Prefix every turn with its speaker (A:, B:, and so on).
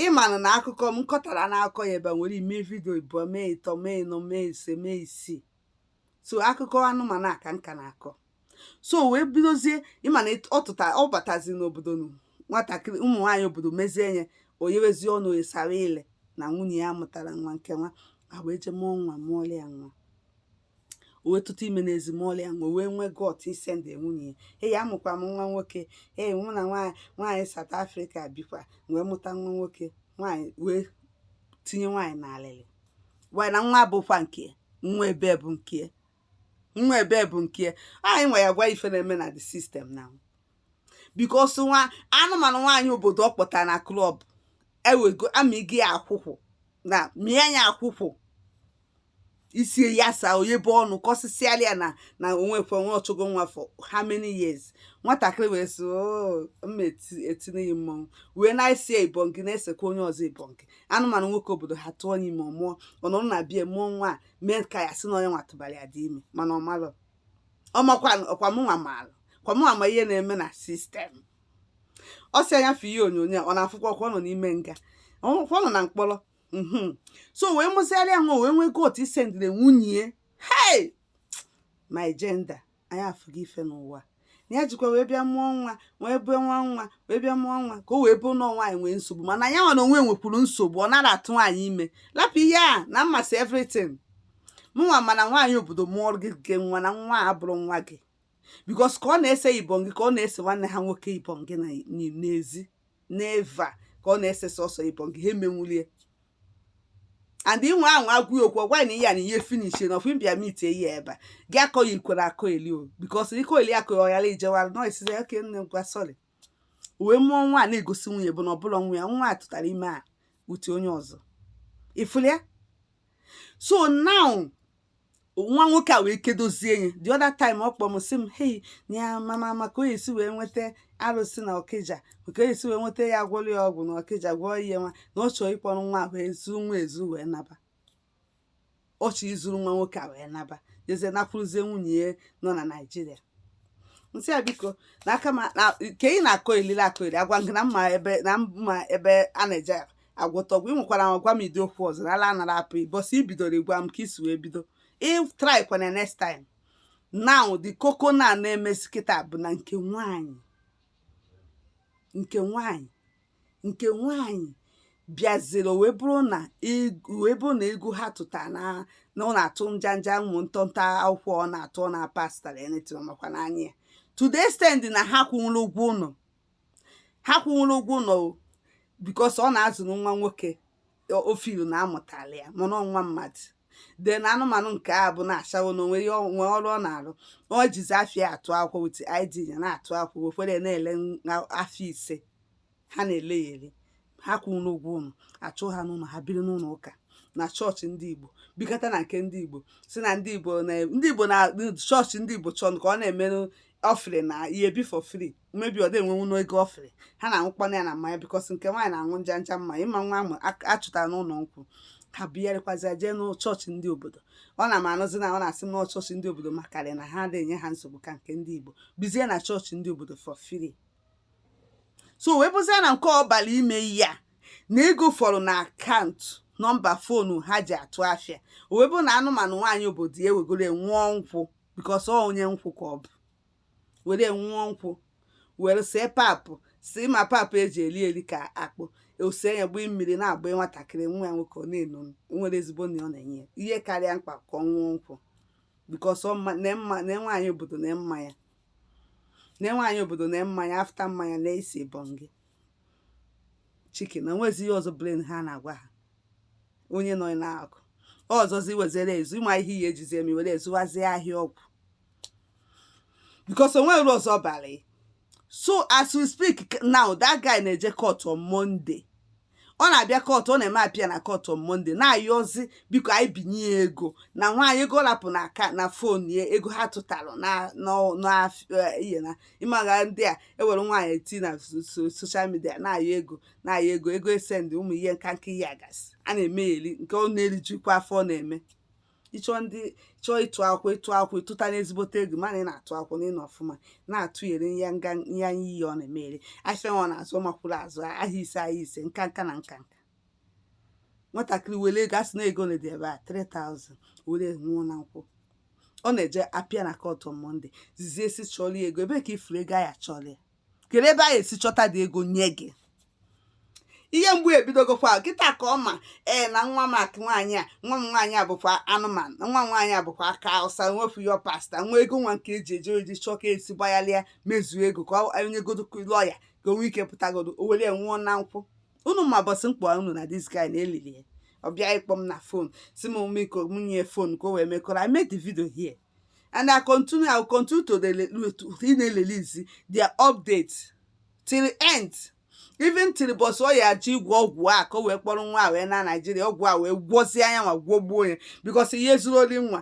A: ịmanụ na akụkọ m kọtara n'akọ ya ebe nwere ime vidio ịbụọ mee ịtọ mee ịnọ mee ise mee isii so akụkọ anụmanụ a ka m ka na-akọ so wee bidozie ịma na ọ tụta ọ batazi n'obodo nụ nwatakịrị ụmụ nwaanyị obodo mezie nye o yewezi ọnụ o yesara ile na nwunye ya mụtara nwa nke nwa a wee jee mụọ nwa mụọla ya nwa o wee tụta ime n'ezi mụọla ya nwa o wee nwee gut isendi nwunye ya ee amụkwa m nwa nwoke ee mụ na nwaanyị nwaanyị South Africa bikwa wee mụta nwa nwoke nwaanyị wee tinye nwaanyị n'alịlị wee na nwa bụkwa nke ya, nwa ebe bụ nke ya, nwa ebe bụ nke ya. anyị nwa ya gwa ife na-eme na the system now because nwa anụmanụ nwaanyị obodo ọ kpọtara na club ewego amịgo ya akwụkwụ na mịa ya akwụkwụ isie ya saa o yebe ọnụ kọsịsịala ya na na o nwekwe nwa ọ chụgo nwa for how many years nwatakịrị wee sị "Oo, m ma eti- etinye gị mmọnwụ wee na-ese ya ibongi na-esekwa onye ọzọ ibongi anụmanụ nwoke obodo ha tụọ ya ime ọ mụọ ọ nọrọ na bie mụọ nwa a mee ka ya sị na onye nwa tụbara ya dị ime mana ọ malụ ọ makwa ọkwa mụnwa maalụ kwa mụnwa ma ihe na-eme na system ọ sị anya fụ ihe onyonyo a, ọ na-afụkwa ọkwa ọ nọ n'ime nga ọ nọ na mkpọrọ mhm. so wee mụziara ya nwa wee nwee gut isendiri nwunye hey my gender anyị afụgo ife n'ụwa na ya jikwa wee bịa mụọ nwa wee bụọ nwa nwa wee bịa mụọ nwa ka o wee bụrụ na nwaanyị nwee nsogbu mana ya nwa na onwe nwekwuru nsogbu ọ nara atụ nwaanyị ime lapụ ihe a na m masị everything mụnwa ma na nwaanyị obodo mụọ gị gị nwa na nwa a abụrọ nwa gị because ka ọ na-ese ibongi ka ọ na-ese nwanne ha nwoke ibongi n'ezi never ka ọ na-ese sọsọ ibongi ha emenwulie and inwe ahụ agwụ okwu ọ gwa na ihe a na ihe finish na ọfụ mbịa meet ihe ebe a gị akọ ya ikwere akọyeli o because ị kọyeli akọ ya ọghara ijewara nọ isizi oke nne ngwa sorry o wee mụọ nwa a na-egosi nwunye bụ na ọ bụla nwa ya nwa a tụtara ime a uti onye ọzọ ị fụlịa so now nwa nwoke a wee kedozie ya the other time ọ kpọrọ m sị m hei na ya mama maka onye si wee nweta arụsị na Ọkịja maka onye si wee nweta ya gwọrọ ya ọgwụ na Ọkịja gwọọ ihe nwa na ọ chọrọ ịkpọrọ nwa a wee zuo nwa ezu wee naba ọ chọrọ izuru nwa nwoke a wee naba jezie nakwuruzie nwunye ya nọ na Nigeria m sị ya biko na aka ma na ka ị na-akọyeli akọyeli agwa gị na m ma ebe na m ma ebe a na-eje agwọta ọgwụ ị nwekwara gwa m ụdị okwu ọzọ na ala anara apụ bọsị i bidoro ịgwa m ka i si wee bido ị trykwana next time now the koko na na-emesi kịta bụ na nke nwanyị nke nwanyị nke nwanyị bịaziri wee bụrụ na wee bụrụ na ego ha tụta na na ọ na-atụ njanja ụmụ ntọnta akwụkwọ ọ na-atụ ọ na-apasịtara anything makwa n'anya ya to the extent na ha kwụnwụrụ ụgwọ ụlọ ha kwụnwụrọ ụgwọ ụlọ o because ọ na-azụrụ nwa nwoke o filu na amụtala ya mana ọ nwa mmadụ then anụmanụ nke a bụ na-achawo na onwe ya onwe ọrụ ọ na-arụ ọ jizi afịa atụ akwụkwọ with ID ya na-atụ akwụkwọ wefere ya na-ele afịa ise ha na-ele ya ele ha kwụrọ ụgwọ ụlọ achụ ha n'ụlọ ha biri n'ụlọ ụka na chọọchị ndị igbo bikọta na nke ndị igbo si na ndị igbo na ndị igbo na chọọchị ndị igbo chọrọ ka ọ na-emerụ ọfịrị na ihe bi for free maybe ọ dị enwenwu n'ego ọfịrị ha na-aṅụkwana ya na mmanya because nke nwaanyị na-aṅụ nja nja mmanya ịma nwa ahụ achụtara n'ụlọ nkwụ ha bịarịkwazịa jee n'chọọchị ndị obodo ọ na m anụzi na ọ na-asị m na chọọchị ndị obodo makarị na ha na-enye ha nsogbu ka nke ndị igbo bizie na chọọchị ndị obodo for free so wee bụzie na nke ọ balị ime ya na ego fọrọ na account number phone ha ji atụ afịa o wee bụ na anụmanụ nwaanyị obodo ya ewegoro nwụọ nkwụ because ọ onye nkwụ ka ọ bụ were nwụọ nkwụ were see papụ si ma papụ eji eri eri ka akpụ ose ya gbee mmiri na-agba nwatakịrị nwa ya nwoke ọ na-eno nwere ezigbo na ọ na-enye ya ihe karịa mkpa ka ọ nwụọ nkwụ because na nwaanyị obodo na mmanya na nwaanyị obodo na mmanya after mmanya na esi bọngị chicken na nwezi ihe ọzọ brain ha na-agwa ha onye nọ n'akụ ọzọzi wezere ezu ịma ihe ya ejizi eme were ezuwazie ahịa ọgwụ because o nwe uru ọzọ balị so as we speak now that guy na-eje court on Monday ọ na-abịa court ọ na-eme appear na court on Monday na-ayọzi biko anyị binye ya ego na nwaanyị ego ọ lapụ na aka na phone ya ego ha tụtara na n'ọ- n'af- eh, ihe na ịmaga ndị a ewere nwaanyị eti na so- so- social media na-ayọ ego na-ayọ ego ego e send ụmụ ihe nka nka ihe agasị a na-eme ya eri nke ọ na-erijikwa afọ ọ na-eme ịchọ ndị chọọ ịtụ akwụ ịtụ akwụ ịtụta n'ezigbote ego mana ị na-atụ akwụ na ịnọ ọfụma na-atụnyere ya nga ya anya iyi ọ na-emere afịa ọ na-azụ ọmakwụrụ azụ ahịa ise ahịa ise nka nka na nka nka nwatakịrị were ego asị na ego na dị ebe a 3000 were nwụọ na nkwụ ọ na-eje appear na court Monday zizie esi chọrọ ya ego ebe ka ifuru ego a ya-achọrọ ya kere ebe a ya-esi chọta dị ego nye gị ihe mgbu ebidogokwa kịta ka ọ ma ee na nwa m akụ nwaanyị a nwa m nwaanyị a bụkwa anụmanụ nwa m nwaanyị a bụkwa aka awụsa nwefu ya pasta nwa ego nwa nke eji eje o ji chọọ ka esi gbagharịa mezuo ego ka o nyegodo lawyer ka o nwee ike pụtagodo o were ya nwụọ na nkwụ unu ma bọsị mkpọ unu na this guy na-elili ya ọ bịa ịkpọ m na phone si m biko m nye phone ka o wee mekọrọ I made the video here and i continue i will continue to na-erelease their update till the end even till bọsị ọ ya ji gwọ ọgwụ a ka o wee kpọrọ nwa a wee naa Nigeria ọgwụ a wee gwọzie anya nwa gwọgbuo ya because ihe zuru ori nwa